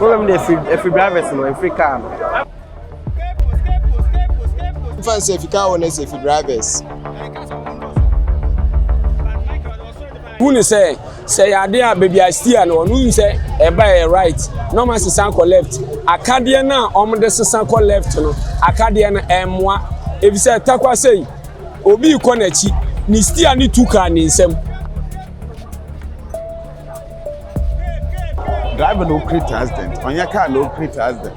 Wọ́n mi de efi efi drivers no efi car no. Nfa n sɛ efi car wɔ na sɛ efi drivers. Wúni sɛ. Sɛ ɛyɛ adeɛ a baabi a steer no ɔno nim sɛ ɛba ɛyɛ right na ɔma sesa kɔ left. Akadeɛ no a wɔde sesa kɔ left no akadeɛ no ɛmmoa efisɛ takwa sei obi rekɔ n'akyi ne steer no tu kaa ne nsam. Driver na operate accident ɔnyɛ car na operate accident.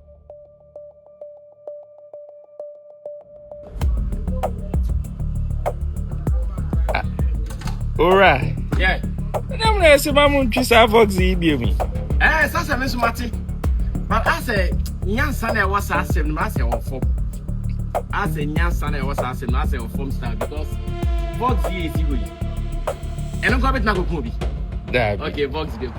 owura ɛna mu na ɛsɛ ma mo ntwi saa fox yi bie mu ɛɛ sasa mi soma te but asɛ nyansa na ɛwɔ saa asɛm no mu asɛ wɔ fam asɛ nyansa na ɛwɔ saa asɛm no asɛ wɔ fam style because fox yi esi hɔ yi ɛno nso abɛtena koko bi daabi okay fox bi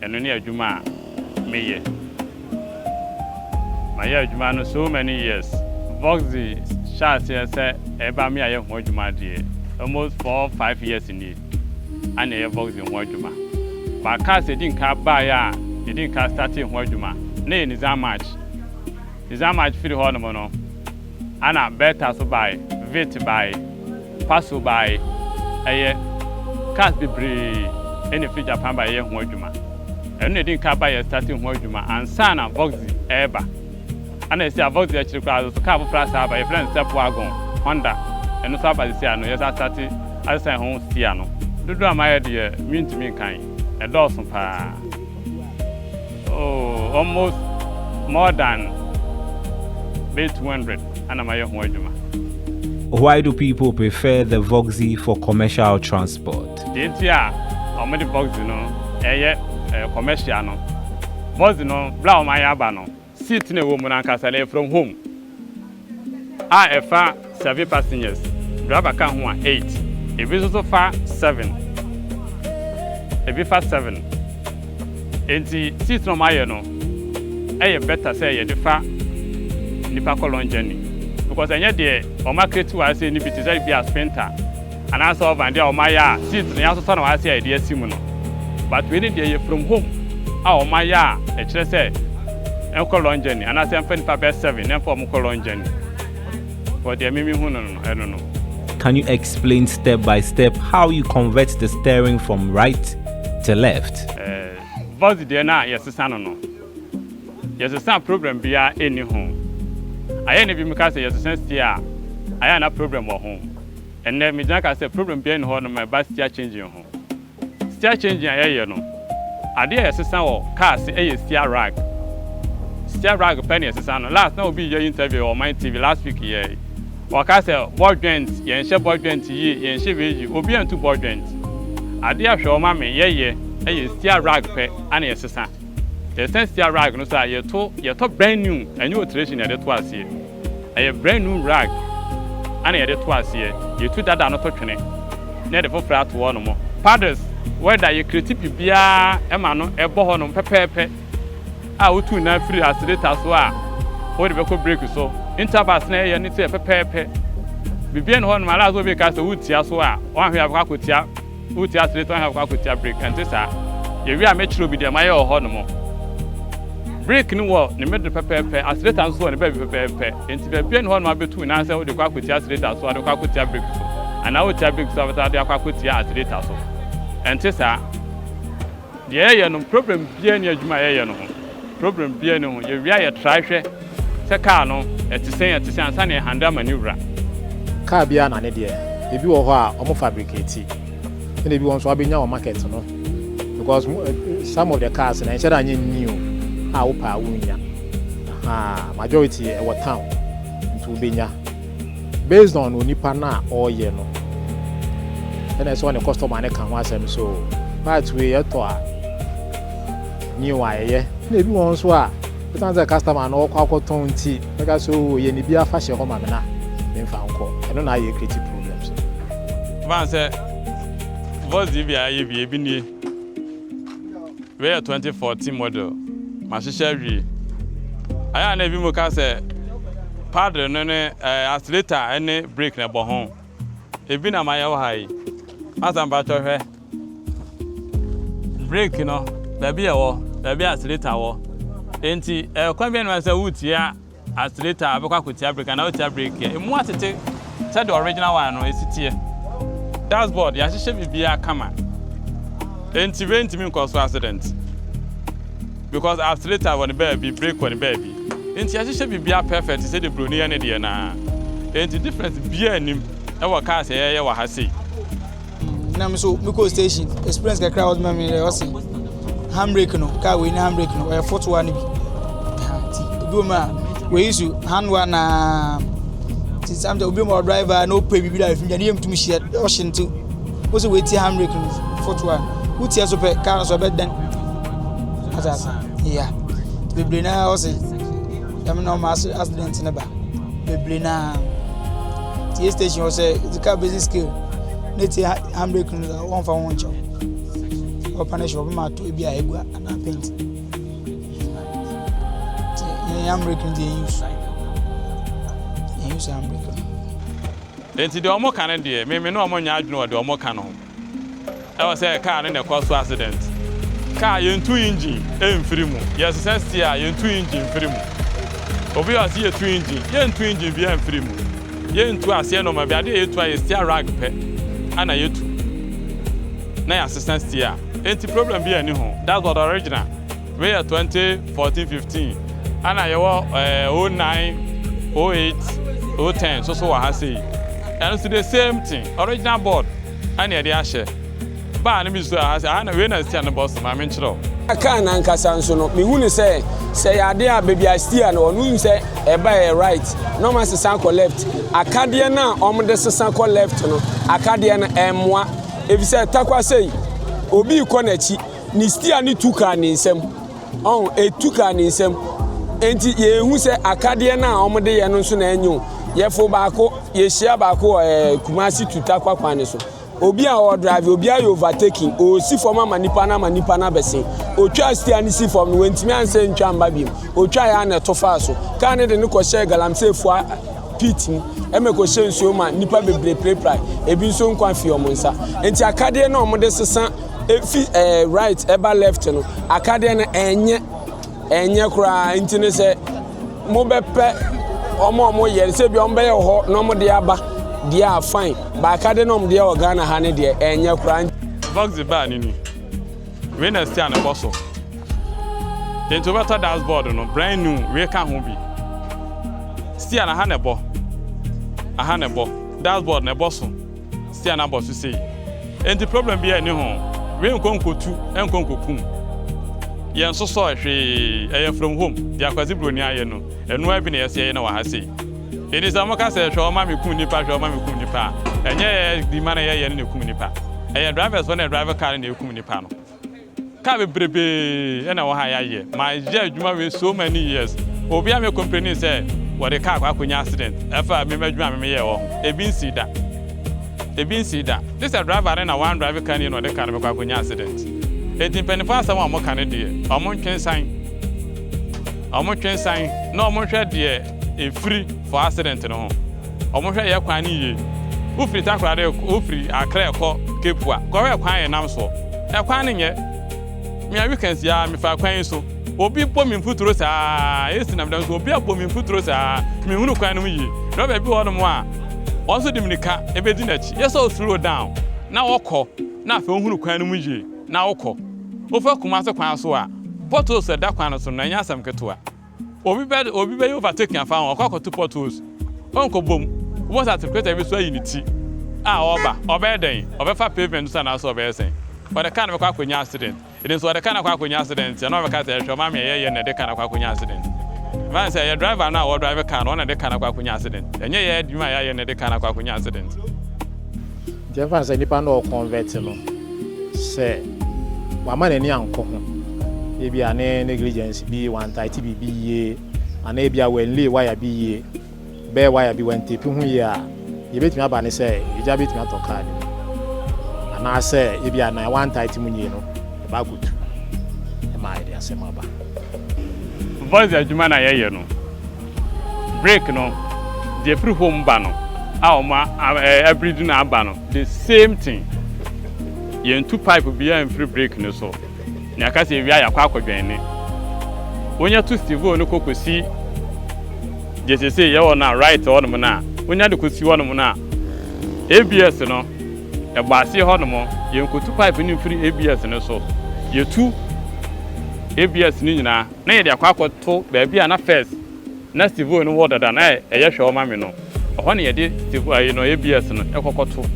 Ɛno ne adwuma a me yɛ. Ma yɛ adwuma no so many years. Vox de hyɛ aseɛ sɛ ɛba me a yɛ ho adwuma deɛ almost four five years nie a na yɛ vox de ho adwuma. But cars yɛdi nka baa yɛ a yɛdi nka startee ho adwuma na yɛ Nissan March. Nissan March firi hɔ nom no a na Bertha so baaɛ, Vit baaɛ. Fa so bae. Ɛyɛ cars bebree na efi Japan ba yɛyɛ ho adwuma. Ɛno na edi kan ba yɛ starting ho adwuma ansa na Voxy reba. Ɛna sisi a Voxy akyiri koraa nso car foforo asan aba, yɛfrɛ no Step Wagon, Honda. Ɛno nso aba sisi a no yɛsan starte asesan ho sisi a no. Dodoɔ a mayɛ deɛ mentumi nkan, ɛdɔɔso paa. Oh, almost more than bɛyɛ 200 ana mayɛ ho adwuma. Why do people prefer the Voxy for commercial transport? Deɛ nti a wɔde Voxy no ɛyɛ commercial no, Voxy no berɛ a wɔayɛ aba no, Seat no a ɛwɔ mu no ankasa no yɛ from home a ɛfa seven passengers, driver ka ho a eight. Ebi nso so fa seven, ebi fa seven. Enti seat no a wɔayɛ no yɛ better sɛ yɛde fa nnipa kɔ long journey because ɛnyɛ deɛ wɔacreate wɔ ase no bi te sɛ ebia sprinter. Anaasɛ ɔvan deɛ wɔayɛ a seat no yɛasosɔ na wɔayɛ sɛ yɛde asi mu no. But wei no deɛ ɛyɛ from home a wɔayɛ a ɛkyerɛ sɛ ɛnkɔ long journey anaasɛ ɛmfa nnipa bɛyɛ seven na ɛmfa wɔn nkɔ long journey. But deɛ me mehu no no ɛno no. Can you explain step by step how you convert the steering from right to left? Voxy deɛ no a yɛsesa no no, yɛsesa problem biara nni ho. Ayɛ na ebinom ka sɛ yɛsesa steer a, ayɛ a na problem wɔ ho. Ɛnnɛ, megyina ka sɛ problem biara nni hɔ nom a ɛba steer changing ho. Steer changing a yɛyɛ no, adeɛ a yɛsesa wɔ car ase yɛ steer rag. Steer rag pɛ na yɛsesa no. Last na obi yɛ interview wɔ Ɔman TV, last week yɛɛ yi. Ɔkaa sɛ ball joint, yɛnhyɛ ball joint yie, yɛnhyɛ wei yie. Obiara ntu ball joint. Adeɛ a hwɛ ɔma me yɛyɛ yɛ steer rag pɛ na yɛsesa. Yɛsesa steer rag no so a, yɛto, yɛtɔ brand new, ɛnyɛ alteration na yɛde to aseɛ. Ɛyɛ brand new rag na yɛde to aseɛ. Yɛtu dada no to twene na yɛde foforɔ ato hɔ nom. Paddles, wɛda, yɛ kreti biribiara ma no ɛbɔ hɔ nom pɛpɛɛpɛ a wotu nan firi accelerator so a wode bɛkɔ brake so. Intervals na yɛyɛ no nso yɛ pɛpɛɛpɛ. Biribiara nni hɔ nom, unless obi reka sɛ wotia so a, woanhwɛ a wobɛkɔ akɔtia. Woretu ase retɔn hɛn kɔ akotua brick, ɛnte saa? Yewie a mɛkyerɛ obi deɛ mayɛ wɔ hɔnom. Brick no wɔ ne mede pɛpɛɛpɛ, aseretan nso wɔ ne baabi pɛpɛɛpɛ, enti baabiara nni hɔ a na wabɛtu wo nan sɛ wode kɔ akɔtua aseretan so, wode kɔ akɔtua brick so, anaa wotua brick so a wobɛsan de akɔ akɔtua aseretan so. Ɛnte saa? Deɛ yɛyɛ no problem biaa nni adwuma a yɛyɛ no ho problem biaa nni ho yɛwie a yɛ try hwɛ sɛ car no ɛte sɛn ɛte sɛn ansa na yɛ handle ama ne wura. Car biaa na ne deɛ ebi wɔ hɔ a ɔmo fabricate ɛna ebi wɔ hɔ nso wabɛnya wɔ market no because some of the cars no ɛnhyɛ da nyɛ new a wo pɛ a wo nnya ahaa majority ɛwɔ town nti wo bɛnya. Based on onipa no a ɔreyɛ no ɛna ɛsɛ ɔne customer no ka ho asɛm so part wei yɛtɔ a new a yɛyɛ na ebi wɔn nso a ɛsan sɛ customer no ɔkɔ akɔtɔn nti ɛka so yɛ ne bi afa hyɛ hɔ ma me na memfa nkɔ ɛno na ayɛ creative problems ban sɛ voice bi a ayɛ bi ebi nie Wei yɛ twenty fourteen model mahyehyɛ awie ayɛ a na ebi mu ka sɛ paddle no ne ɛɛ accelerator ɛne brake na ɛbɔ ho ebi na mayɛ wɔ ha yi masa mpatsɔ hwɛ brake no baabi ɛwɔ baabi accelerator wɔ enti ɛɛ kwan bi ɛnum sɛ wotia. Astreta abɛkɔ akɔtia brake anaa ɔretia brake a ɛmu atete sɛdeɛ original one no ɛsi teɛ. Dashboard yɛahyehyɛ biribiara kama enti rentumi nkɔ so accident because astreta wɔ ne baabi brake wɔ ne baabi enti yɛahyehyɛ biribiara perfect sɛdeɛ broni yɛ ne deɛ no ara enti difference biara nnim wɔ cars a yɛyɛ wɔ ha sei. Mm, na me nso mekɔ station experience kakra a wɔde ma me dɛ ɔse handbrake no kaa wei ne handbrake no ɔyɛ fotoa no bi nti obi wɔ mu a wei su handoa na nti samta obi ma ɔdriver na ɔpɛ biribi da afim gya ne yɛ mtum hyia ɔhye nti wo sɛ woatie handbrake no fotoa no wotie so pɛ kaa no so ɔbɛdɛn asase yeah bebree naa ɔse Dɛm na ɔma ase accident no ba bebree naa tie station hɔ sɛ the car basic skill ne tie handbrake no dza wɔmfa ho nkyɛw wɔpa no hyɛ wɔbɛma ato ebi a egua anaa paint yɛn handbrake no deɛ yɛn use yɛn use handbrake no. Enti deɛ wɔn ka no deɛ, meme ne wɔn nyɛ adwene wɔ deɛ wɔn ka no ho. Ɛwɔ sɛ car no na ɛkɔ so accident. Car yɛntu engine mfiri mu. Yɛsesa steer a yɛntu engine mfiri mu. Obi wɔ ha sɛ yɛtu engine. Yɛntu engine biara mfiri mu. Yɛntu aseɛ nnoɔma biara. Adeɛ a yɛtu ara yɛ steer rag pɛ na yɛtu na yɛasesa steer. Enti problem biara nni ho. That's what original. Wei yɛ twenty fourteen fifteen ɛna yɛwɔ ɛɛ oh nine oh eight oh ten so so wɔ ha sei ɛno nso the same thing original board ɛna yɛde ahyɛ baa no bi so ɛha sei aha na wei na stia no bɔ so maame nkyerɛ wo. Car no ankasa nso no me hu no sɛ sɛ yɛ adeɛ a baabi a stia no wɔ no wonim sɛ ɛba yɛ right na wɔn asesa kɔ left akadeɛ no a wɔn de sesa kɔ left no akadeɛ no ɛmmoa efisɛ takwa sei obi rekɔ n'akyi. ne stia no tu kaa ne nsam ɔn etu kaa ne nsam nti yɛhu sɛ akadeɛ no a wɔde yɛ no nso na ɛnyɛ o yɛfo baako yɛhyia baako wɔ ɛɛ eh, kumasi tu takwa kwan no so obi a ɔdrive obi ayɛ overtaking ɔsi fam ama nipa no ama nipa no abɛsen ɔtwa stia no si fam no wɔntumi ansɛ ntwa mba biom ɔtwa yɛ ana ɛto faa so kaa no de no kɔhyɛ galamsey fua pit mu ɛmɛ kɔhyɛ nsuo ma nipa bebree pirapira ebi nso nkwa fi wɔn nsa nti akadeɛ no a wɔde sesa efi ɛɛ eh, right ɛba left no akadeɛ no ɛnyɛ ɛnyɛ koraa nti ne sɛ mobɛpɛ wɔn a wɔyɛ no sɛ bi wɔn bɛyɛ wɔ hɔ na wɔn de aba deɛ a fine baaka de na wɔn deɛ wɔ ghana ha ne deɛ ɛnyɛ koraa. vox baa ne ni wei na ɛsi a na ɛbɔ so nti wobɛtɔ dashboard no brand new wei ka ho bi si a na ha na ɛbɔ aha na ɛbɔ dashboard na ɛbɔ so. Stian abɔ so sei enti problem biaa nni ho, wee nkɔ nkotu nkɔ nkokum yɛn sosɔɛ hwee ɛyɛ from home deɛ Kwasi Broni ayɛ no ɛno ara bi na yɛse yɛyɛ na wɔ ha sei enti sɛ wɔka sɛ hwɛ wɔma me kum nipa hwɛ wɔma me kum nipa a ɛnyɛ yɛ dwuma na yɛyɛ no na ɛkum nipa ɛyɛ drivers foɔ na ɛdrive car no na ɛkum nipa no. Car bebrebe na ɛwɔ ha yɛayɛ. Mayɛ adwuma wei so many years. Obiara mmɛ complaini sɛ wɔde car kɔ akɔnya accident ɛfa me m'adwuma a me meyɛɛ wɔ ho. Ebi nsii da. Ebi nsii da. Gye sɛ driver no na wandrive car no yie na ɔde car no bɛkɔ akɔnya accident. Enti mpanyinfoɔ asɛm a wɔka no deɛ, wɔntwe nsan. Wɔntwe nsan na wɔnhwɛ deɛ. Efiri for accident no ho. Ɔmo hwɛ yɛ kwan no yie. Wo firi takoradi rekɔ wo firi akra rekɔ cape a kɔ hwɛ kwan a yɛ nam soɔ. Ɛkwan no nyɛ. Me a weekends yi ara me faa kwan yi so. Obi bɔ me mfuturo saa ara esi nam dam so obi abɔ me mfuturo saa ara me nhunu kwan no mu yie. Driver bi wɔ hɔ nom a ɔno nso de mirika bedi n'akyi. Yɛ sɛ o slow down na wo kɔ na afei wo hunu kwan no mu yie na wo kɔ. Wo fa Kumasi kwan so a potholes a ɛda kwan no so no ɛnyɛ asɛm ketewa. Obi bɛ obi bɛyɛ overtaking afa ho, ɔkɔ akɔto potholes, ɔnkɔbom, wobɛhu sɛ atekorɛtɛ bi so ayi ne ti a ɔreba, ɔbɛyɛ dɛn? Ɔbɛfa pavement no so anaasɛ ɔbɛyɛ sɛn? Ɔde car no bɛkɔ akɔnya accident, ɛnim sɛ ɔde car no akɔ akɔnya accident nti a na wabɛka sɛ hwɛ ɔma me ɛyɛ yɛn na ɛde car no akɔ akɔnya accident. Ɛfa ne sɛ ɛyɛ driver no a ɔredrive car no, ɔno na ɛde car no akɔ akɔnya accident, ɛnyɛ yɛn adwuma a yɛayɛ na ɛde car no akɔ akɔnya accident. Nti yɛmfa no sɛ nipa no ɔrekɔnvɛt no, sɛ wama n'ani ankɔ ho, ebia ne negligence bi, wantaete biribi yie, anaa ebia wannlay waya bi yie, bɛɛ waya bi, wantepi ho yie a, deɛ ebetumi aba ne sɛ egya betumi atɔ kaa no mu. Anaasɛ ebia nea wantaete mu yie no, ɛba akɔtu ma ɛde asɛm aba. Voice adwuma na yɛyɛ no. Break no deɛ ɛfiri home ba no a wɔn abiridi na aba no the same thing yɛntu pipe biara mfiri break no so na yɛaka sɛ yɛwie a yɛakɔ akɔdwɛn ne wonya tu stivo no kɔ kɔsi deɛ sese yɛwɔ no a right hɔnom no a wonya de kɔsi hɔnom no a abs no ɛbɔ aseɛ hɔnom yɛnkɔtu pipe no mfiri abs no so yɛtu abs no nyinaa na yɛde akɔ akɔto baabi a na First na Stevoy no wɔ dada na ɛyɛ hwɛw ma me no. Ɛhɔ na yɛde Stevoy ayi no, ABS no, kɔ kɔto,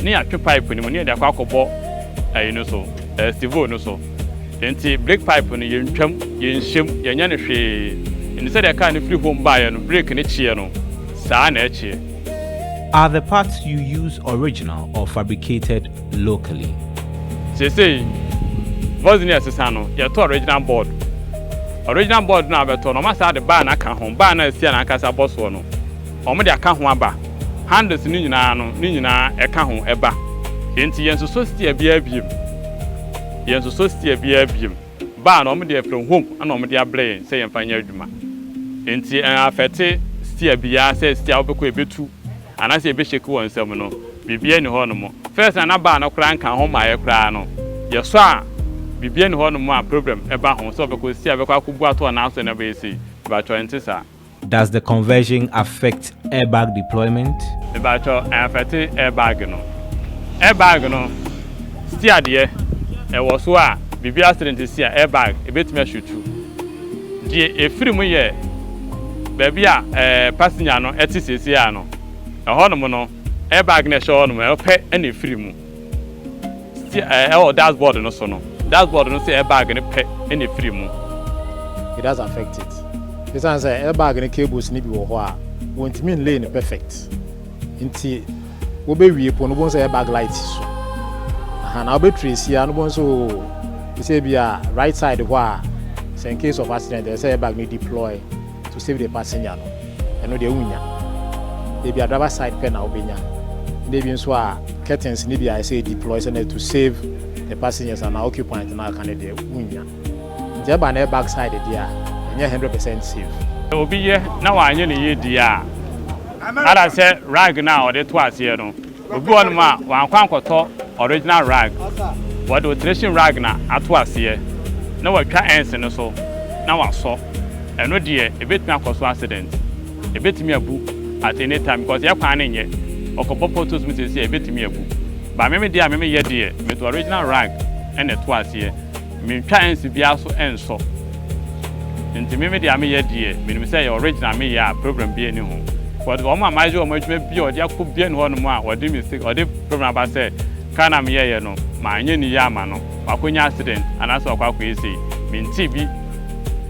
na yɛatwe pipe no mu na yɛde akɔ akɔbɔ ayi no so, ɛɛ, Stevoy no so. Enti brake pipe no, yɛntwam, yɛnhyem, yɛnyɛ no hwee. Enti sɛdeɛ kaa no firi home baeɛ no, brake no kyeeɛ no, saa ara na ɛkyeeɛ. Are the parts you use original or fabricated locally. Seesei Vozney ɛsesa no yɛtɔ original board. Original board no a wobɛtɔ no wɔn asan de bar no aka ho. Bar no a ɛsi yɛn ankasa bɔ soɔ no wɔn de aka ho aba. Handles no nyinaa no ne nyinaa ɛka ho ɛba. Enti yɛn nsosɔ steer biara biom. Yɛn nsosɔ steer biara biom. Bar no wɔn de afiri home ɛna wɔn de abrɛ yɛn sɛ yɛn fa nyɛ adwuma. Enti ɛn affect steer biara sɛ steer a wobɛkɔ ɛbɛtu Anaa sɛ yɛbɛhyɛki wɔ nsɛm no, biribiara nni hɔnom. First na na baa no koraa nka ho mmaeɛ koraa no, yɛsɔ a biribiara nni hɔnom a problem ba ho, sɛ ɔbɛkɔ sei a bɛkɔ akɔbu ato ɔnan so na abɛyɛ sei. Mebakyɛ ɛnte saa. Does the conversion affect airbag deployment? Mebakyɛ ɛnafɛte airbag no. Airbag no steer deɛ ɛwɔ so a biribi accident si a airbag ɛbɛtumi ashutu. Deɛ ɛfiri mu yɛ baabi a passenger no te seesei ara no, ɛhɔnom no, air bag no a ɛhyɛ hɔnom no pɛ na ɛfiri mu. Steer ɛwɔ dashboard no so no, dashboard no nso air bag no pɛ na ɛfiri mu. It does affect it. Ɛsiane sɛ air bag no cables no bi wɔ hɔ a, wɔntumi nlay no perfect nti, Wobɛwie po no wobɛhu sɛ ɛyɛ bag light so aha na wobɛtire si a no wobɛhu sɛ oo te sɛ bi a right side hɔ a sɛ in case of accident ɛsɛ sɛ bag no deploy to save the passenger no ɛno deɛ wonya ebi a driver side pɛ na wobɛnya na ebi nso a curtains ne bi a ɛsɛ deploy sɛ na to save the passengers anaa occupant no aka no deɛ wonya nti ɛba na ɛyɛ bag side deɛ a ɛnyɛ 100% safe. Sɛ obi yɛ na wanyɛ ne yie deɛ a. Ada sɛ rag no a ɔde too aseɛ no, obi wɔ hɔnom a wankɔ ankɔtɔ original rag. Wɔde alteration rag na ato aseɛ na watwa ends no so na wasɔ. Ɛno deɛ ɛbɛtumi akɔ so accident. Ɛbɛtumi abu at any time because yɛ kwan no nyɛ. Ɔkɔbɔ potholes mu seesei a ɛbɛtumi abu. But me me deɛ a me meyɛ deɛ, mede original rag na ɛto aseɛ. Mentwa nsi biara so nsɔ nti me me deɛ a me yɛ deɛ menim sɛ ɛyɛ original me yɛ a problem biara ni ho but wɔn a mayɛ wɔn adwuma bi a wɔde akɔ biara ni hɔ nom a wɔde mistake wɔde problem aba sɛ car no a me yɛɛyɛ no manyɛ ne yie ama no wakɔ nya accident anaasɛ wakɔ akɔ yɛ sei mentee bi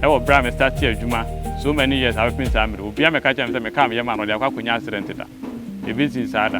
ɛwɔ berɛ a me startee adwuma so many years abɛpem saa mmerɛ obiara mmɛka kyerɛ me sɛ me car meyɛ maa no ɔde akɔ akɔ nya accident da ɛbɛsii saa da.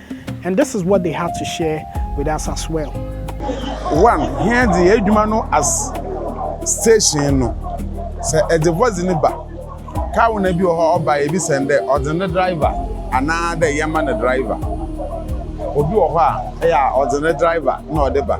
And this is what they have to share with us as well. One, here the edwuma no as station no. Sɛ ɛde voice ne ba, car na bi wɔ hɔ ɔba ebi sɛn dɛ ɔde ne driver anaa dɛ yɛma ne driver. Obi wɔ hɔ a ɛyɛ a ɔde ne driver na ɔde ba.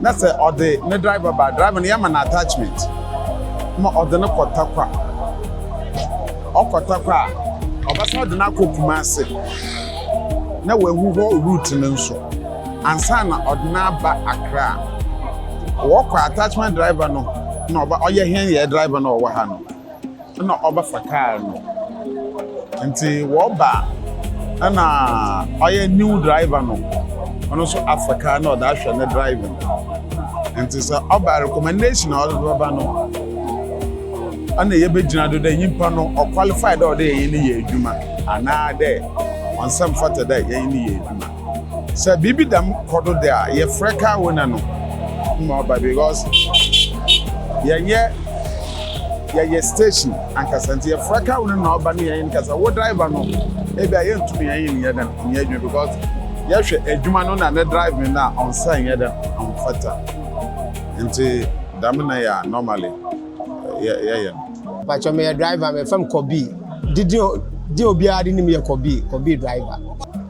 Na sɛ ɔde ne driver ba a, driver no yɛma no attachment ma ɔde no kɔ Tarkwa. Ɔkɔ Tarkwa a, ɔbɛsan de no akɔ Kumase na wahu hɔ route no nso ansa na ɔde no aba Accra. Wɔkɔ attachment driver no na ɔba ɔyɛ hɛn yɛn driver no a ɔwɔ ha no. na ɔbɛfa car no nti wɔba na ɔyɛ new driver no ɔno nso afa car na ɔde ahwɛ ne driving nti sɛ ɔba recommendation a ɔde bɛba no ɛna yɛbɛgyina do dɛ nyimpa no ɔqualify dɛ ɔde yɛn ne yɛ adwuma anaa dɛ ɔnsɛ mfata dɛ yɛn ne yɛ adwuma. Sɛ biribi dɛm kɔ do de a, yɛfrɛ car owner no ma ɔba because yɛnyɛ yɛyɛ station ankasa nti yɛfrɛ car owner no na ɔba na yɛnye no kasa. Wo driver no ebia yenntum yɛnye no nnyɛ dɛm nnyɛ edwuma because yɛhwɛ edwuma no na ne driving no a ɔnnsɛ nnyɛ dɛm ɔmmfata ntsi dɛm na yɛ a normally yɛyɛ no. Mpakyɛw meyɛ driver mefrɛ me Kɔbii, didin a obiara de nim yɛ Kɔbii, Kɔbii driver.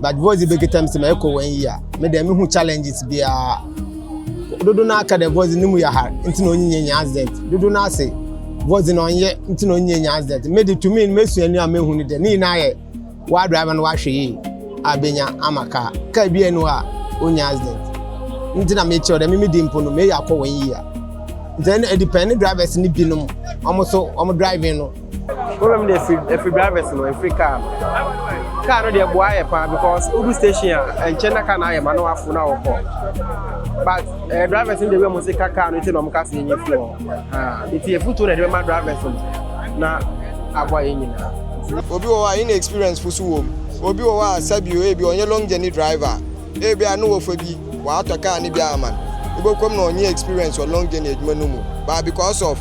but voice de bɛkita m sɛ ma ɛkɔ wɔn yi a me deɛ mehu challenges biara dodo no aka dɛ voice no mu yɛ hard nti na ɔnyinyɛ nya accident dodo no ase voice no ɔnyɛ nti na ɔnyinyɛ nya accident me de tumi no mesua ni a mehu no dɛ ne nyinaa yɛ wa driver no wahwɛ yie a bɛnya ama kaa kaa bi ɛnu a ɔnya accident nti na mekyerɛ dɛ meme di mpo no meyɛ akɔ wɔn yi a nti ɛdepɛn ne drivers no binom wɔn so wɔn driving no Problem no deɛ ɛfiri ɛfiri drivers no ɛfiri car no car no deɛ boa yɛ paa because wodu station a ɛnkyɛn na car no ayɛ ma na wafo na wɔkɔ but ɛɛ eh, drivers no deɛ wei a wɔn si ka car no ti na wɔn ka se yɛn firi hɔ aa eti efutuo na ɛde bɛma drivers no na aboa yɛn nyinaa. obi wɔ hɔ a inexperience fo so wɔ mu obi wɔ hɔ a sɛbi o ebi ɔnyɛ long journey driver. Ebia no wɔfa bi wɔatɔ car no bi ama no, ibokom na ɔnye experience wɔ long journey edwuma no mu but because of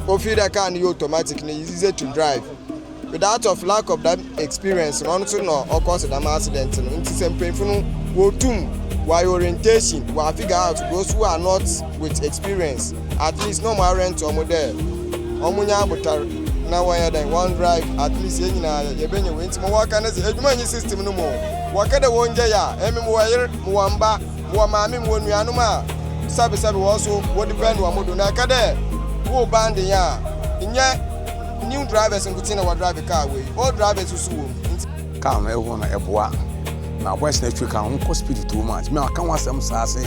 ofeel dɛ car no yɛ automatic no is easy to drive without of lack of dɛm experience no ɔno so na ɔ cause dɛm accident no ntsi sɛ mpanyimfo no wotum wɔayɛ orientation wɔafigure out those who are not with experience At least na ɔmo arɛnt ɔmo dɛ ɔmo nya abotar na wɔnyɛ dɛn wɔn drive at least yɛn nyinaa yɛ yɛbɛnya wei nti mo wɔka ne dze edwuma nyi system no mu o wɔka dɛ wɔn gya yɛ a emi mo wɔ yer mo wɔ mba mo wɔ maame mo wɔ nuanom a sɛbesɛbe wɔn so wɔ depend ɔmo do na ɛka dɛ wo ban de yɛn a nyɛ new drivers nkotsee na wɔ drive car wei old drivers so wɔ mu nti. Car no ɛhɔ no ɛboa. Na boys na ɛtwe car no ɔmo kɔ speed too much. Me aka ho asɛm saa se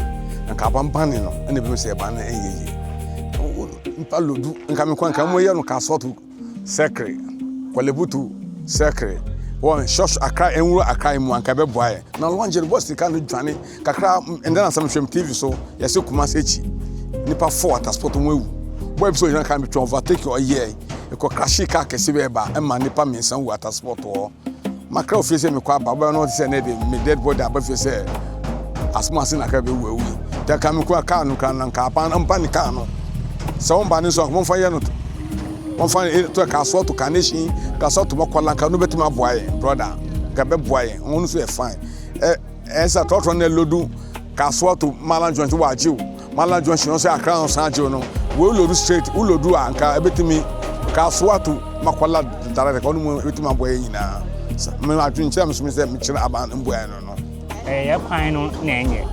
nka abanbane no ɛna ebi sɛ ɛban no ɛnyɛ yie. Nipa lodu nka me kɔ nka ɔmo yɛ no ka sɔto sɛkere kɔlebutu sɛkere wɔn shɔsh akra ɛnwura akra mu anka ɛbɛboa yɛ. Na lɔngye no boys de car no dwane. Kakra ndɛ na nsɛm hwɛm TV so yɛse Kumasi ekyi nipa four at spot wɔn ewu. Boy bi sɛ ɔgyina kan bi twɛn overtaking ɔyɛ ekɔ crashee car kɛse bi ɛba ɛma nipa mmiɛnsa wu at spot hɔ. Makra ofie sɛ mekɔ aba ɔbɛba no ɔte sɛ nɛ de me dead body aba fie sɛ asɛm ase na kra bɛwu awu yi. Tɛ ka me kura car no kra na nka aban ɔmpa ne car no sɛ wɔn ba ne nso wɔmfa yɛ no wɔmfa eh, to ɛka asoɔ to carnation ka asoɔ to mɔkɔla nka no bɛtumi aboa yɛn brother nka bɛboa yɛn wɔn nso yɛ fine. Eh, ɛnsa tɔtɔ na lodu kasoa to mala joint wɔ agye o mala joint yɛn sɛ akra no san agye no wo lodu straight wo lodu a nka ebetumi kasoa to makwala ntare de ka ɔno mu ebetumi abɔ yɛn nyinaa me adwenkyerɛ me so me sɛ mekyerɛ aban mboa no no ɛyɛ kwan no na ɛnyɛ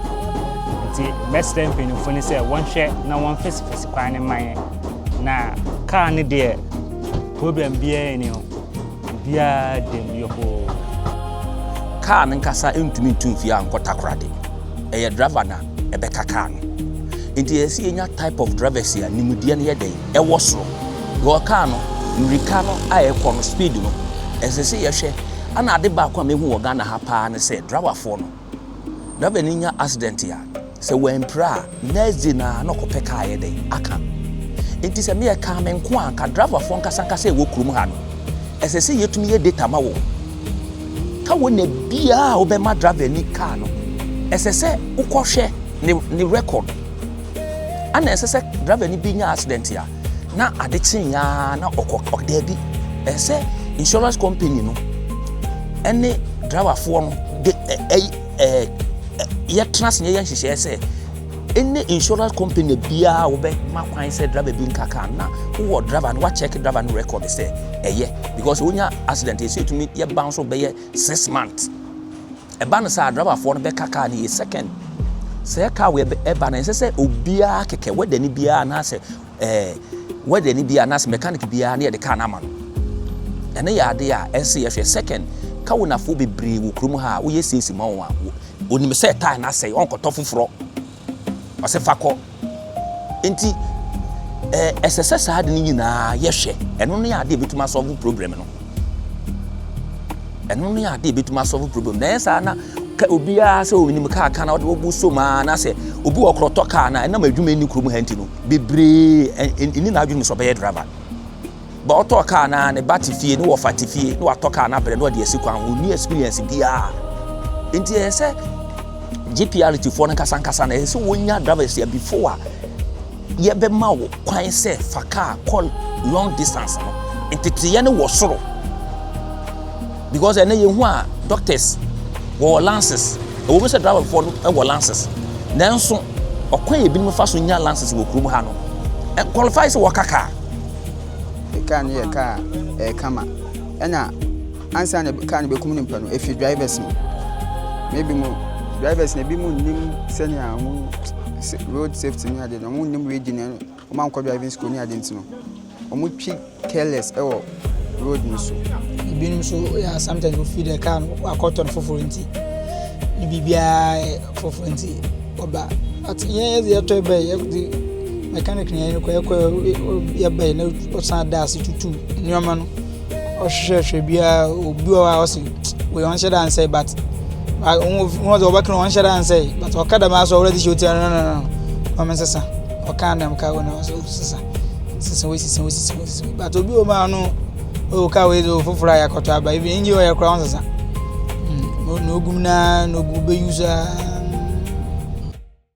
nti mɛsrɛ mpanyinfo no sɛ wɔnhwɛ na wɔnfesifesi kwan no ma yɛn na kaa no deɛ problem biara ni o Obiara dam yɔhoo. Kaa no nkasa ntumi ntu mfie a nkɔ Takoradi. Ɛyɛ driver na ɛbɛka kaa no. Nti ɛyɛ sɛ yɛnya type of drivers a nimdeɛ no yɛ dɛn? Ɛwɔ soro. Because kaa no mmirika no a ɛkɔ no speed no ɛsɛ sɛ yɛhwɛ. Ɛna ade baako a mehu wɔ Ghana ha paa ne sɛ driverfoɔ no Driver no nya accident a, sɛ wampira a, next day no ara na ɔkɔpɛ kaa ayɛ dɛn aka. Enti sɛ meyɛ kaa me nko a, anka driverfoɔ nkasankasa a ɛwɔ kurom ha no, ɛsɛ sɛ yɛtumi yɛ data ma wɔn. Ka wɔ na biara a wobɛma driver ni kaa no, ɛsɛ sɛ wokɔhwɛ ne, ne record. Ana ɛsɛ sɛ driver no bi nya accident a, na ade kyeeɛ ara na ɔkɔ ɔdaabi ɛsɛ sɛ insurance company no ɛne driverfoɔ no de ɛyi ɛɛ yɛtena ase yɛyɛ nhyehyɛɛ sɛ ɛne insurance company biara wɔbɛma kwan sɛ driver bi nka kaa na wowɔ driver no wakyɛke driver no record sɛ ɛyɛ because wonya accident ɛsɛ ɛtumi yɛ ban so bɛyɛ six months Ɛba no saa, driverfoɔ no bɛka kaa no yie. Second, sɛ ɛka wei ɛba no, ɛnsɛ sɛ obiara kɛkɛ wɛdani biara anaasɛ ɛɛ wɛdani biara anaasɛ mechanic biara ne yɛde kaa no ama no. Ɛno yɛ adeɛ a ɛnsɛ sɛ yɛhwɛ. Second, kawonafoɔ bebree wɔ kurom ha a woyɛ siesie ma wɔn a, onim sɛ tae no asɛe, ɔnkɔtɔ foforɔ. Ɔse fa kɔ. Enti eh, ɛsɛ sɛ saa ade no nyinaa yɛhwɛ. Ɛno ne ade a ɛbɛtumi asɔlvo problem no. Ɛno ne ade a ɛbɛtumi asɔlvo problem. Na ɛyɛ saa na obiara sɛ ɔnim kaa ka na ɔde wɔbu so maa na sɛ obi wɔ korɔtɔ kaa na ɛnam adwuma nni kurom ha nti no bebree ɛni n'adwene sɛ ɔbɛyɛ driver. Ba ɔtɔɔ kaa na ne ba te fie ne wɔfa te fie na watɔ kaa no abrɛ na ɔde asi kwan ho, ɔnni experience biara. Nti ɛyɛ sɛ GPRT foɔ no nkasa nkasa na ɛyɛ sɛ wɔnya drivers yɛ before a yɛbɛma wo kwan sɛ fa kaa kɔ long distance no. Nteteeɛ no wɔ soro because ɛnɛ yɛhu a doctors wɔwɔ lances ɛwɔ mu sɛ driverfoɔ no ɛwɔ lances nanso ɔkwan yɛ binom fa so nya lances wɔ kurom ha no qualify sɛ wɔka kaa Car no yɛ car a ɛyɛ kama. Ɛna ansa na car no bɛkum nipa no, ɛfiri drivers mu. Maybe mo drivers no ebi mu nnim sɛnea wɔn road safety ne ade no, wɔn nnim reading no, wɔn ankɔ driving school ne ade nti no, wɔn twi careless ɛwɔ road no so. Ebinom nso yɛ sometimes wofi the car no wakɔtɔ no foforɔ nti ne biribiara yɛ foforɔ nti ɔba. But yɛn yɛde yɛtɔ ɛbɛn yɛde mechanic no yɛne no kɔɛ kɔɛ yɛbɛɛ na ɔsan da ase tutu nneɛma no ɔhwehwɛhwɛ biara obi wɔ hɔ a ɔse wei ɔnhyɛ da nsɛe but wɔn sɛ wɔbɛka no ɔnhyɛ da nsɛe but ɔka dɛm asɛ ɔwura de hyɛ ɔti no no no no wɔn nsesa ɔka dɛm ka wɔn ɔsɛ ɔsesa sesa wei sesa wei sesa wei sesa but obi wɔ mu a ɔno ɔwɔ ka wei deɛ ɔfoforɔ a yɛakɔtɔ aba ebi engye ɔyɛ koraa wɔn nsesa na ogum naa na ogu bɛyi so aa.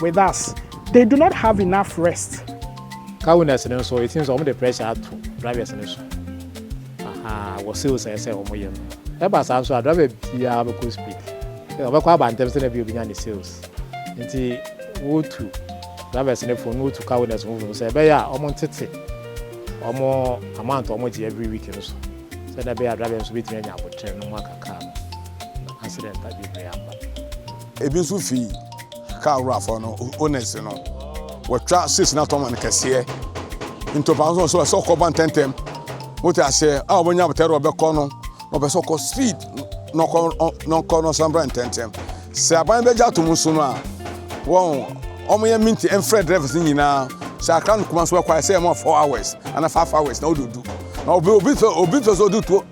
with us they do not have enough rest. Car owners no nso it seems wɔn de pressure ato drivers no so aha wɔ sales a ɛsɛ wɔn yɛ no ɛba saa nso a driver biara bɛkɔ speed ɔbɛkɔ aba ntɛm sɛ na bi obi nya ne sales nti wotu drivers no fo no wotu car owners no fo sɛ ɛbɛyɛ a wɔn ntete wɔn amount a wɔn gye every week no so sɛ na ɛbɛyɛ a driver nso bɛtumi anya abotire no mu aka car no accident a bebree aba. Ebi nso fi kaa wura fɔ no owners no wɔtwa six na tɔn ma no kɛseɛ ntɔkwa nso sɛ ɔsɛ ɔkɔ ba ntɛntɛm wote aseɛ a wɔnya abotare ɔbɛkɔ no na ɔpɛ sɛ ɔkɔ speed na ɔkɔ na ɔkɔ na ɔsan bra ntɛntɛm sɛ aban bɛgye ato mu nso no a wɔn wɔn yɛ minti mfrɛ drivers nyinaa sɛ akra no kuma nso bɛkɔ ayɛ sɛ ɛmɔ four hours ana five hours na ɔdodu na obi obi fɛ obi fɛ sɛ ɔdu two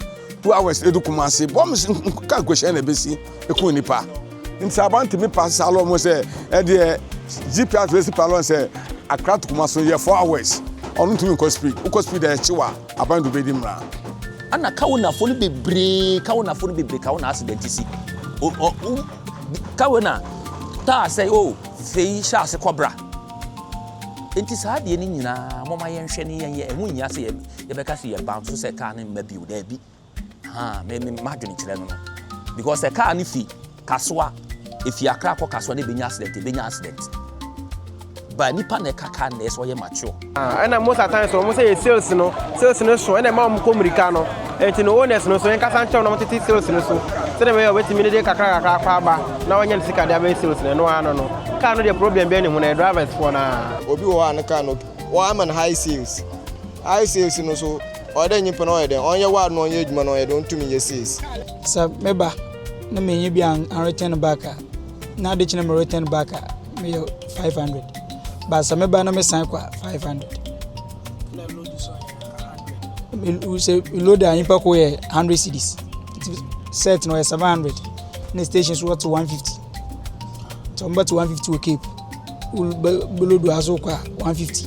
two hours edu kuma ase bɔm nka nkohyɛn na ebesi. ɛku nnipa nti aban tumi pa saa lɔ mu sɛ ɛdeɛ gps bɛsi pa lɔ sɛ akra to kuma so yɛ four hours ɔno ntumi nkɔ speed wokɔ speed a ɛkyi wa aban do bɛdi mmara ana kawo nafo no bebree kawo nafo no bebree kawo na accident si o o kawo na taa sɛ o oh, fei hyɛ ase kɔbra nti saa adeɛ no nyinaa mɔma yɛnhwɛ ne yɛnyɛ ɛho nyia sɛ yɛbɛka sɛ yɛba so sɛ kaa no mma bio daabi Ahaa me me m'adwene kyerɛ no no because sɛ car no fi Kasoa efi Accra kɔ Kasoa na ebenya accident ebenya accident but nipa na ɛka car na ɛsɛ ɔyɛ mature. Ah, ɛna most at times wɔn sɛ yɛ sales no sales no so ɛna ɛma wɔn kɔ mmirika no ɛnti no owners no so yɛn kasa nkyɛn na wɔn tete sales no so sɛdeɛ bɛyɛ ɔbɛtumi ne de kakra kakra akɔ aba na wɔnyɛ ne sika de abɛyɛ sales no ɛno ano no kaa no deɛ problem bɛn ne ho na yɛ drivers foɔ naa. obi wɔ hɔ a ne kaa no wɔn ama no high sales high sales no so. Ɔyɛ dɛ nyimpa no ɔyɛ dɛn ɔnyɛ ward na ɔnyɛ edwuma na ɔyɛ dɛn onntum nnyɛ sees. Sɛ me ba na minnyi bi an return back a na adekye na me return back a meyɛ five hundred but sɛ me ba na me san kɔ a five hundred sɛ load a nyimpa kɔ yɛ hundred cedis set na ɔyɛ seven hundred na station so wɔte one fifty nti wɔn bɛte one fifty wɔ cape belodo aso kɔ a one fifty.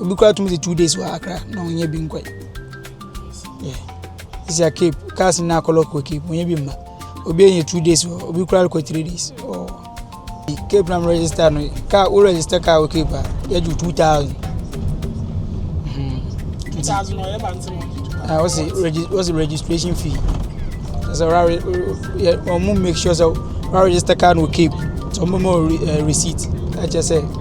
obi koraa tumi de two days wɔ akra na ɔnyɛ bi nkɔe ɛsi a cape cars na akɔlɔ kɔ cape ɔnyɛ bi mma obi yɛ two days wɔ obi koraa kɔ three days ɔɔ cape na register no car wo register car wɔ cape a yɛgye two thousand what's the, regi- what's the registration fee? So, uh, make sure so, register card with cape. So, more uh, receipt. I just say.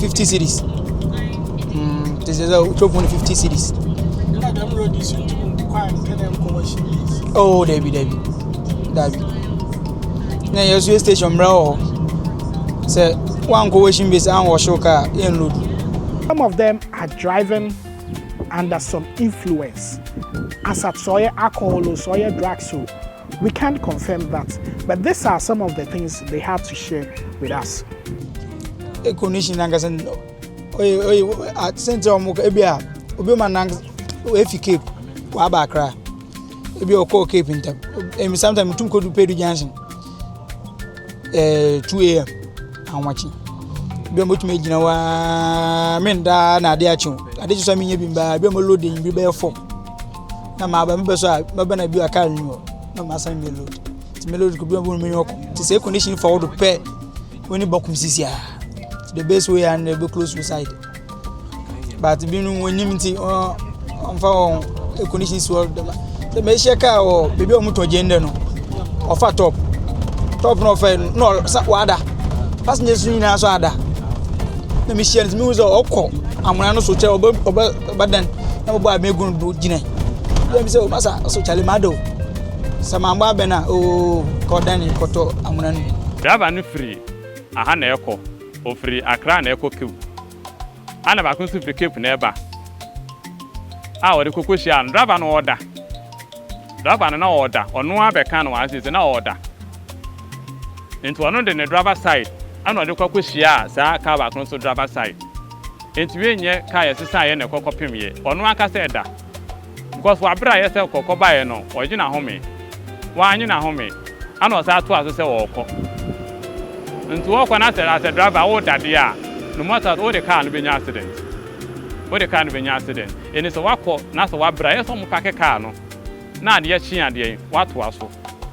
fifty cities mm te sɛ sɛ wotwa fo no fifty cities na dɛm redi so nti mu nkɔ a nkɛ dɛ nkɔ washing place oh dabi dabi dabi na yɛ so yɛ station mmerɛ wɔ hɔ sɛ wankɔ washing place anwɔ hyew ka a yɛn lodu some of them are driving under some influence asat sɛ ɔyɛ alcohol o sɛ ɔyɛ drugs o We can't confirm that but this are some of the things they had to share with us. E condition nankasa no oye oye sɛnti ɔmo ka ebi a obi ma nank efi cape waba akra ebi ɔkɔɔ cape ntam emi sometimes tum kodu pedu junction ɛɛ two am ahomakye ebi ɔmo tumi gyina waa me ndaa na ade akyew ade kyekyɛ mi nye bi mbaa ebi ɔmo loading bi bɛyɛ fam. na maba mebɛ so a mɛba na bi a car nni hɔ na masan mɛ load nti mɛ load kɔbi ɔbɛhu mɛnyɛ ɔkɔ nti sɛ condition fa wo do pɛ w'ani bɔ kum sisi a the best way a na ɛbɛ close suicide but binom wɔnim nti ɔmfa wɔn condition si hɔ dɛma sɛ mɛhyɛ car wɔ baabi a wɔn tɔ gyen dɛ no ɔfa top top na ɔfa yɛ no na ɔsa wada passengers nyinaa so ada na mehyia no nti mehu sɛ ɔkɔ amona no so kyɛ ɔbɛ ɔbɛ ɔbɛdan na mobɔ abɛn gu no do gyina yɛ mi sɛ o masa ɔsɛ kyale ma do sɛ mambɔ abɛn a oo ka ɔdan ne kɔtɔ amona no Driver no firi aha na ɛrekɔ, ɔfiri Accra na ɛrekɔ Cape. Ɛna baako nso firi Cape na ɛreba a wɔde kɔ kɔhyiaa no. Driver no ɔreda. Driver no na ɔreda. Ɔno ara bɛka no wɔ seesei na ɔreda. Nti ɔno de ne driver side ɛna ɔde kɔ kɔhyiaa saa car baako nso driver side. Entumi enyɛ ka a yɛsesaeɛ na ɛkɔ kɔpem yɛ ɔno ankasa ɛda. Because wɔ aberɛ a ɛyɛ sɛ ɔkɔ kɔbaeɛ no ɔgye n'ahome, wannye n'ahome ɛna ɔsan toa so sɛ ɔɔkɔ. Nti wɔɔkɔ na sɛ as a driver a wooda adeɛ a no matter wode car no bɛnya accident. Wode car no bɛnya accident. Eni sɛ woakɔ na sɛ woabrɛ a ɛyɛ sɛ wɔpake car no na adeɛ kye a deɛn, woatoa so.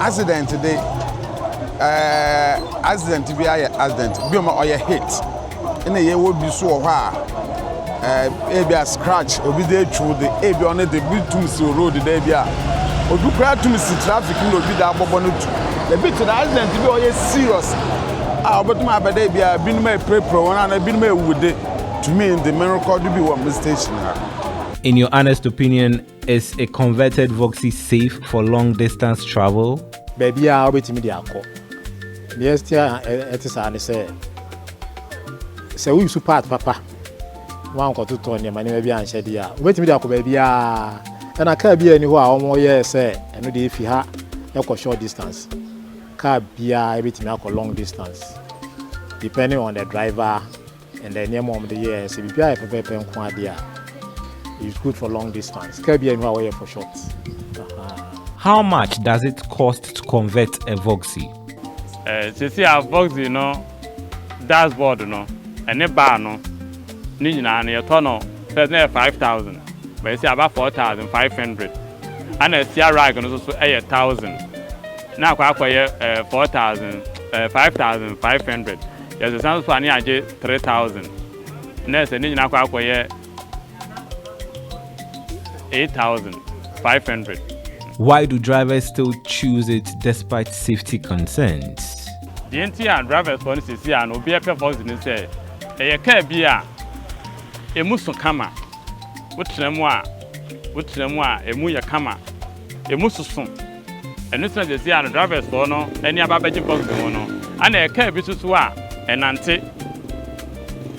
Accident de eh accident bi ayɛ accident bi ma ɔyɛ hit ɛna yɛwɔ bi so wɔ hɔ a eh, ebi a scratch obi de atwiw de ebi ɔne de bi tum si road de ebi a obi kura tum si traffic na obi da abɔbɔ no tu ebi te na accident bi ɔyɛ serious a ɔbɛtum abɛda ebi a binom apirapira wɔn ana binom awu de tumi de merekɔ do bi wɔ me station ha. In your honest opinion, Is a converted Voxy safe for long distance travel? Baabiara a wobɛtumi de akɔ. Deɛ ɛte a ɛte saa ne sɛ, sɛ woyusu part papa na woankɔtotɔ nneɛma nneɛma bi anhyɛ deɛ a, wobɛtumi de akɔ baabiara. Ɛna kaa biara nni hɔ a wɔyɛɛ sɛ ɛno deɛ ɛfi ha ɛkɔ short distance. Kaa biara ɛbɛtumi akɔ long distance depending on the driver. And then nneɛma a wɔde yɛ a ɛsɛ biribiara yɛ pɛpɛɛpɛ nko ara deɛ a it's good for long distance car bi a ɛnu a wɔyɛ for short. How much does it cost to convert a Voxy? Eh, sisi a Voxy no dashboard no ɛne bar no ne nyinaa no yɛtɔ no first na yɛ five thousand but yɛsi aba four thousand five hundred ɛna ɛsia rag no soso ɛyɛ thousand na akɔ akɔyɛ eh, four thousand eh, five thousand five hundred. Yɛsesa nso a ne agye three thousand, na ɛsɛ ne nyinaa kɔ akɔyɛ eight thousand five hundred. Why do drivers still choose it despite safety concerns? Deɛ nti a drivers foɔ no sɛsi a no obiara pɛ Foxy ne sɛ ɛyɛ car bi a ɛmu so kama, wo tena mu a wo tena mu a ɛmu yɛ kama, ɛmu soso. Ɛno sɛ sɛsi a no drivers foɔ no ani aba abɛgye boxing ho no ɛna ɛkaa bi so so a ɛnante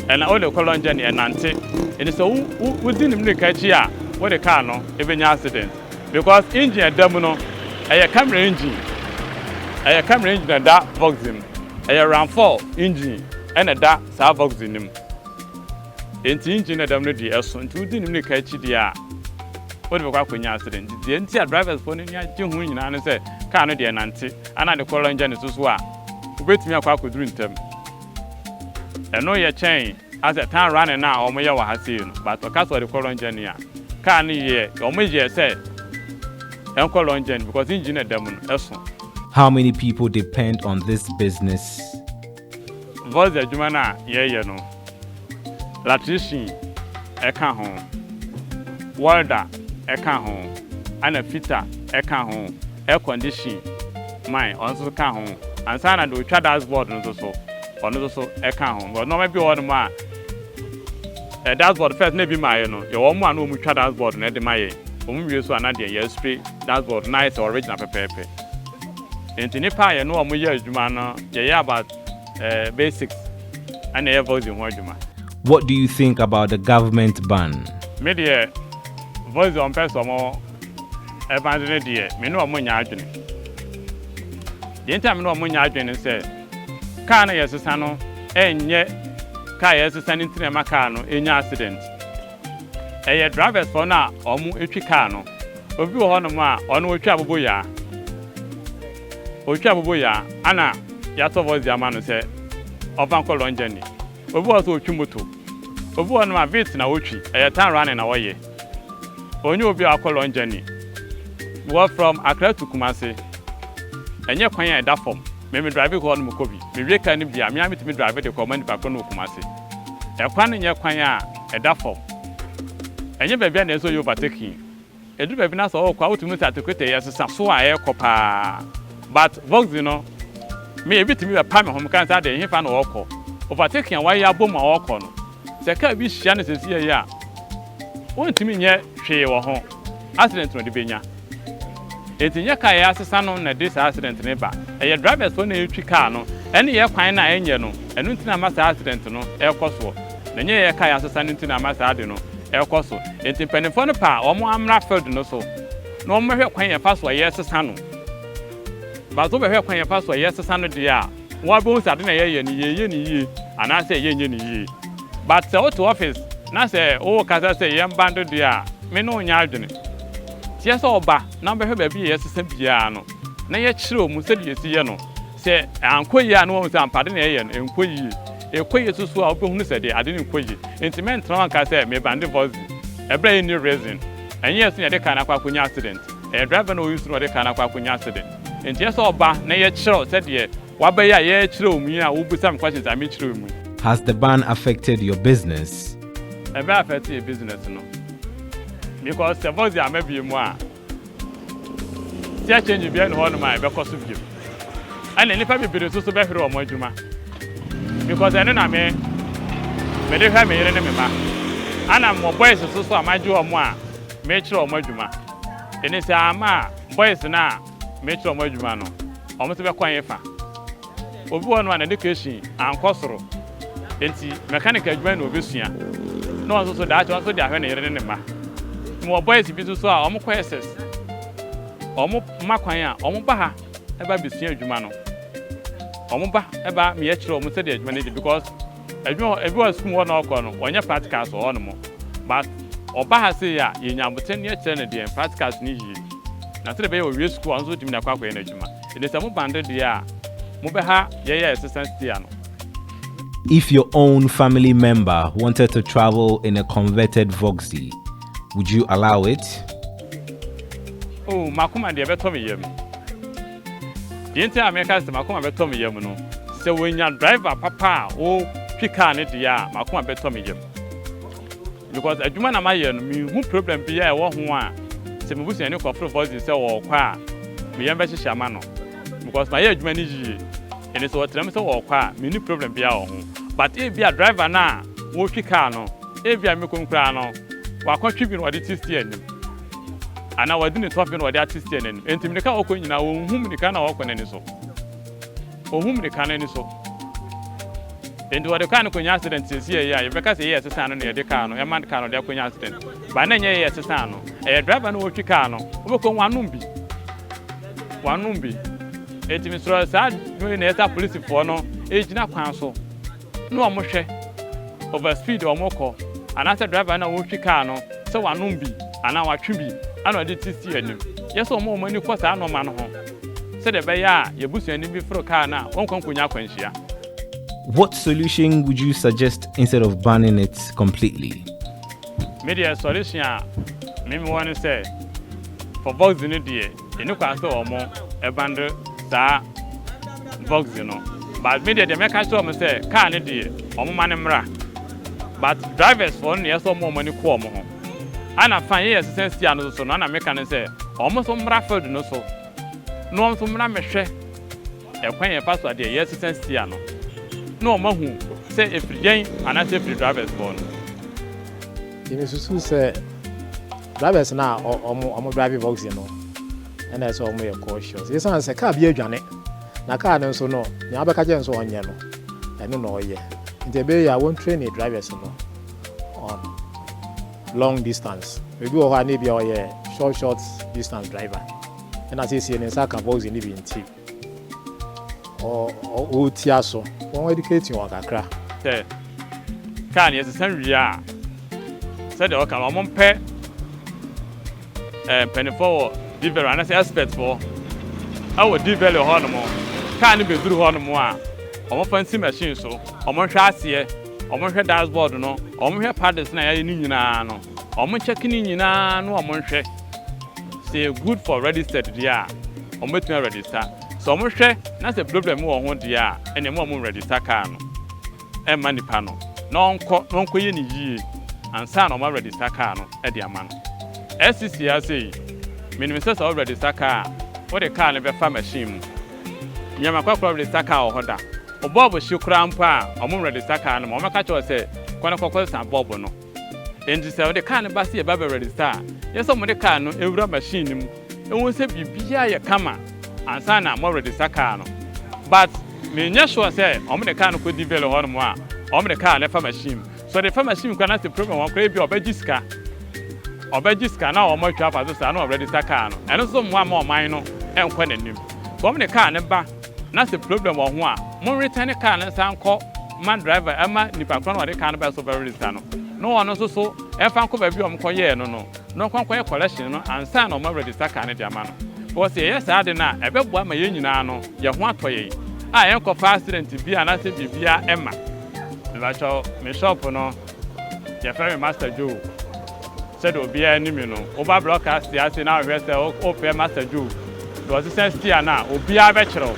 ɛna wode kɔ long journey ɛnante ɛti sɛ wo wodi nim ne ka akyi a wode kaa no ɛbɛnya accident because engine ɛda mu no ɛyɛ camera engine ɛyɛ camera engine ɛda boxing mu ɛyɛ run for engine ɛna ɛda saa boxing no mu. Enti engine na dɛm no deɛ ɛso nti wodi nim ne ka akyi deɛ a wode bɛkɔ akɔnya accident nti deɛ nti a drivers foɔ no ani agye ho nyinaa ne sɛ car no deɛ ɛnante ana ade kɔ lɔngya ne so so a wobɛtumi akɔ akɔduru ntɛm ɛno yɛ kyɛn asɛ tan running no a wɔn yɛ wɔ ha sei no but ɔka sɛ ɔde kɔ lɔngya ni a car no yɛ wɔn yɛ sɛ ɛnkɔ lɔngya ni because engine na ɛda mu no ɛso. How many people depend on this business? Voice Adwuma no a yɛreyɛ no, Latricine ka ho, Welder ka ho, ɛna Fitter ka ho, Air Condition man ɔno nso ka ho, ansa na deɛ ɔtwa Dust Board no nso so ɔno nso so ka ho, because nnoɔma bi wɔ hɔ nom a eh, Dust Board first na ebi ma yɛ no, yɛwɔ wɔn a na wɔtwa Dust Board no de ma yɛn, wɔn wie nso a na deɛ yɛ Spray Dust Board no na ayɛ sɛ Original pɛpɛɛpɛ. Enti nnipa a yɛne wɔn yɛ adwuma no, yɛyɛ about basics ɛna ɛyɛ Voxy ho adwuma. What do you think about the government ban? Me deɛ Voxy ɔmpɛ sɛ ɔmo ɛbande no deɛ me ne ɔmo nyɛ adwene. Deɛ nti a me ne ɔmo nyɛ adwene ne sɛ, car no a yɛsesa no ɛnyɛ car a yɛsesa no nti na ɛma car no nya accident. Ɛyɛ drivers fɔ no a ɔmo twi car no. Obi wɔ hɔ nom a ɔno otwi aboboyaa. Otwi aboboyaa ana yasɔ voice de ama no sɛ ɔfa nkɔ long journey. Obi wɔ hɔ so otwi moto. Obi wɔ hɔ nom a Vitz na otwi, ɛyɛ town running na ɔyɛ. Ɔnyɛ obi a wakɔ long journey. Mewɔ from Accra to Kumasi. Ɛnyɛ kwan a ɛda fɔm. Me me drive hɔ nom kɔ bi. Me wie car no bi a, me ara me tumi drive de kɔ ma nipa korɔ no wɔ Kumasi. Ɛkwan no nyɛ kwan a ɛda fam. Ɛnyɛ baabi a na ɛsɛ sɛ ɔyɛ overtaking. Ɛduru baabi no a sɛ ɔɔkɔ a wotumi hu sɛ atekotɛ yi ɛsesa so a ɛɛkɔ paa. But Voxy no, me ebi tumi bɛpa me ho, meka no sɛ adɛn hefa na ɔɔkɔ? Overtaking a wayɛ abom a ɔɔkɔ no, sɛ car bi hyia no sɛsii yi a, wontumi nyɛ hwee wɔ ho, accident na ɔde bɛnya. Enti nyɛ car a ɛyɛ asesa no na ɛde saa accident no ba, ɛyɛ drivers foɔ na ɛretwi car no, ɛne yɛ kwan no a ɛnyɛ no, ɛno nti na ama saa accident no ɛrekɔ soɔ, na nyɛ yɛ car a yɛasesa no nti na ama saa ade no ɛrekɔ so. Enti mpaninfoɔ no pɛ a wɔn ammra field no so na wɔn mmɛhwɛ kwan yɛfa so a yɛresesa no, but wo bɛhwɛ kwan yɛfa so a yɛresesa no deɛ a, Wabehu sɛ ade na yɛyɛ no yɛyɛ no yie anaasɛ yɛnyɛ no yie. But sɛ wote office na sɛ wokasa sɛ yɛn ba do deɛ a, me ne wo nyɛ adwene. Kyerɛ sɛ ɔba na ɔbɛhwɛ baabi a yɛsesa biara no na yɛkyerɛw mu sɛdeɛ yɛsi yɛ no. Sɛ ankɔ yie a na wahu sɛ ampa ade na yɛyɛ no nkɔ yie. Ekɔ yie soso a wobɛhunu sɛ deɛ ade no nkɔ yie. Nti mɛntena hɔ nka sɛ mebande voice bi ɛberɛ a ɛnni reason. Ɛnyɛ yɛn so na yɛde car no akɔ akɔnya accident. Ɛyɛ driver no a ɔyi so na ɔde car no akɔ akɔnya accident. Enti ɛsɛ sɛ ɔba na yɛkyerɛw sɛdeɛ wabɛyɛ a yɛrekyerɛw mu yi a wobisa me questions a mekyerɛw mu yi. Has the ban affected your business? Ɛbɛ affect yɛ business no because sɛ Voxy amma bio mu a sea change biara nni hɔnom a ɛbɛkɔ so bio ɛna nnipa bebree nso so bɛhwere wɔn adwuma because ɛno na me mede hwɛ me yere ne me mma ɛna mewɔ boys nso so a magye wɔn a mekyerɛ wɔn adwuma ɛne sɛ amma a Boys no a mekyerɛ ɔmo adwuma no, ɔmo nso bɛkɔ hefa? Obi wɔ hɔ nom a n'education annkɔ soro, ntsi mechanic adwuma na obesua, na ɔno so daakye ɔno so de ahwɛ ne yere ne ne mma. Mowɔ boys bi so so a ɔmo kɔ SS, ɔmo ma kwan a ɔmo ba ha ba besua adwuma no, ɔmo ba ba meyɛkyerɛ ɔmo sɛdeɛ adwuma no yɛ because. Edwuma ebi wɔ sukuu hɔ na ɔkɔ no wɔnyɛ practicals wɔ hɔnom but ɔba ha sei a yenya aboterɛ na yɛkyerɛ no deɛ practicals no yie na sɛdeɛ ɛbɛyɛ ɔwie sukuu a ɔno nso watumi de akɔ akɔyɛ n'adwuma ɛnti sɛ mo bande deɛ a mobɛha yɛyɛ assistance tea no. If your own family member wanted to travel in a converted Voxy, would you allow it? Oh, m'akoma deɛ ɛbɛtɔ me yam. Deɛ nti a meka sɛ m'akoma bɛtɔ me yam no, sɛ wɔnya driver papa a ɔtwi kaa no deɛ a, m'akoma bɛtɔ me yam. Because adwuma na mayɛ no, menhu problem biara a ɛwɔ ho a sɛ me busuani kɔforo Voices sɛ ɔrekɔ a, me yam bɛhyehye ama no. Because mayɛ adwuma no yie. Ɛnti sɛ wɔtra mu sɛ wɔrekɔ a, menni problem biara wɔ ho. But ebia driver no a ɔretwi kaa no, ebia mekɔ mu koraa no, wakɔtwe bi na ɔde ti si anim. Anaa wɔde ne tɔfe na wɔde ateteɛ n'anim. Enti mmirika a wɔkɔ nyinaa, wɔnhu mmirika no a wɔkɔ no ani so. Wɔnhu mmirika no ani so. Enti wɔde kaa no kɔnya accident seesei a ɛyɛ a, yɛbɛka sɛ ɛyɛ ɛsesa ano na yɛde kaa no, ɛma kaa no de akɔnya accident. But na ɛnyɛ ɛyɛ ɛsesa ano. Ɛyɛ driver no a ɔretwi kaa no. Wobɛkɔ hu wanom bi. Wanom bi. Enti mesrɛ saa adwuma yi na ɛsɛ sɛ apolisifoɔ no gyina kwan so. ne wɔn hwɛ over speed a wɔkɔ anaasɛ driver no a ɔretwi car no sɛ wanom bi anaa watwe bi ɛna ɔde ti si anim. Yɛ sɛ wɔma wɔn ani kɔ saa nnoɔma no ho sɛdeɛ ɛbɛyɛ a yɛn busuani bi foro car no a wɔnkɔ nkɔnya akwanhyia. What solution would you suggest instead of banning it completely? Me deɛ solution a me mewɔ ne sɛ for boxing no deɛ. Yɛ ne kwa sɛ ɔmo ɛbande saa voxy no but me deɛ deɛ mɛka kyerɛ ɔmo sɛ car no deɛ ɔmo ma no mmra but drivers foɔ no na ɛsɛ ɔmo ɔmo ani kɔ ɔmo ho ɛna fine yɛ yɛ sesa stia no so no ɛna meka no sɛ ɔmo nso mmra field no so na ɔmo nso mmra mmɛhwɛ Ɛkwan a ɛfa so a deɛ yɛresesa stia no na wɔn ahu sɛ ɛfiri yɛn anaasɛ ɛfiri drivers hɔ no. Nti me susu sɛ drivers no a wɔn drive voxy no na ɛsɛ wɔn yɛ cautious ɛsiane sɛ car bi adwane na car no nso no nea wobɛka kyerɛ no sɛ ɔnyɛ no ɛno na ɔyɛ nti ɛbɛyɛ yɛ a wɔn train drivers no on long distance ebi wɔ hɔ a na ebia ɔyɛ short short distance driver. Ɛna seesei ne nsa aka boxing no bi nti ɔretia so. Wɔn educate wɔn kakra. Sɛ car no yɛsesa wie a, sɛdeɛ wɔka no, wɔmpɛ eh, mpanimfoɔ wɔ Diveri anaasɛ expertfoɔ ɛwɔ Diveri hɔ nom. Car no bɛduru hɔ nom a, wɔmfa nsi machine so, wɔnhwɛ aseɛ, wɔnhwɛ dashboard no, wɔnhwɛ paddles no a yɛayɛ no nyinaa no, wɔnkyɛke no nyinaa na wɔnhwɛ. Sɛ yɛ good for registered deɛ a, wɔn bɛtumi a register. Sɛ wɔn hwɛ na sɛ problem bi wɔ ho deɛ a, ɛneɛ mo a mo register car no, ɛmma nipa no na ɔnkɔ na ɔnkɔ yɛ no yie ansa na wɔn a register car no de ama no. SCC ara sei, me nim sɛ sɛ wo register car a, wo de car no bɛfa machine mu. Me a makɔ akɔ register car wɔ hɔ da, wo bulb hye koraa mpo a, wɔn register car no ma, wɔn bɛka kyerɛ wo sɛ kɔ na kɔ kɔ sa bulb no. Enti sɛ wode kaa no ba sɛ yɛba bɛwɛre nsa a, yɛ sɛ mode kaa no wura machine no mu ɛwom sɛ biribiara yɛ kama ansa na moawɛre nsa kaa no but menyɛ sure sɛ wɔde kaa no kɔ D'vale hɔ nom a wɔde kaa no fa machine mu sɛ wɔde fa machine mu koraa na sɛ problem wɔ koraa ebia wɔbɛgye sika wɔbɛgye sika na wɔn atwa afa so saa na wɔawɛre nsa kaa no ɛno nso mmoa ma ɔman no ɛnkɔ n'anim sɛ wɔde kaa no ba Na sɛ problem wɔ ho a mo retɛne car no nsan nkɔ ma driver ɛma nipa korɔ no a ɔde car no baɛ so bɛ register no na ɔno nso so ɛnfa nkɔ baabi a ɔmo kɔ yɛɛ no no na ɔnkɔ nkɔ yɛ collection no ansa na ɔmo aregister car no de ama no because sɛ yɛyɛ saa ade no a ɛbɛboa ma yɛn nyinaa no yɛn ho atɔ yɛn a yɛnkɔfa accident bi anaasɛ biribiaa ɛmma. Mepakyɛw me shop no yɛfrɛ me Master Joe. Sɛdeɛ obiara nim me no, woba brɔkast ase na wohwɛ sɛ wofrɛ Master Joe na ɔsesa stiya no a, obiara bɛkyere wo.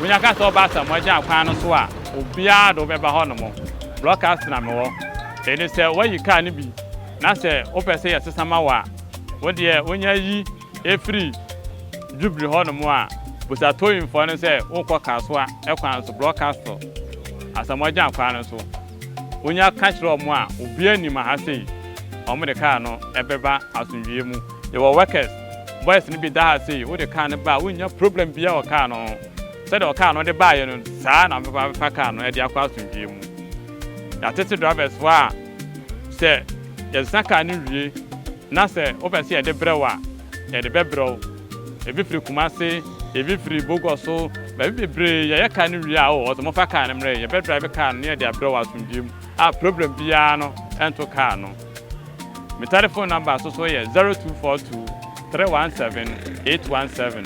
Wonya ka sɛ woba Asamoah Gyan kwan no so a, obiara de wo bɛba hɔnom. Brɔkast na mewɔ. Enti sɛ woayi kaa no bi na sɛ wopɛ sɛ yɛsesa ma wo a, wo deɛ wonya yi firi Jubilee hɔnom a, bisa towingfoɔ no sɛ worekɔ Kasoa kwan so, brɔkast Asamoah Gyan kwan no so. Wonya ka kyerɛ wɔn a obiara nnim aha sei, wɔn de kaa no bɛba asomdwoeɛ mu. Yɛwɔ workers, boys no bi da ha sei, wode kaa no ba a wonnya problem biara wɔ kaa no ho. Sɛdeɛ ɔkaa no wode baeɛ no, saa na wobɛba abɛfa kaa no de akɔ asomdwoeɛ mu. Yɛatete drivers foɔ a sɛ yɛsesa kaa no wie na sɛ wopɛ sɛ yɛde brɛ wo a, Yɛde bɛbrɛ wo. Ebi firi Kumasi, ebi firi Boguaso, baabi bebree. Yɛyɛ car no wie a, oh, ɔse momfa car no mmrɛ yɛn. Yɛbɛ drive car no na yɛde abrɛ wo asomdwie mu a problem biara no nto car no. Me telephone number nso so yɛ zero two four two three one seven eight one seven.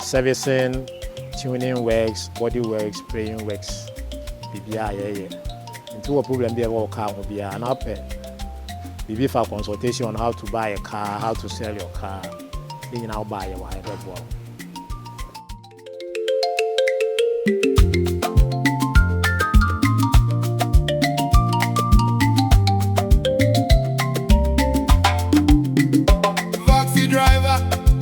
Servicing, tuning works, body works, playing works, biribiara yɛyɛ. Nti wowɔ problem bi a ɛwɔ wo car ho biara anaa wopɛ biribi fa consultation on how to buy a car, how to sell your car, ne nyinaa wobaa yɛwɔ ha yɛbɛboa wo.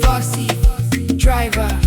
Vossy driver.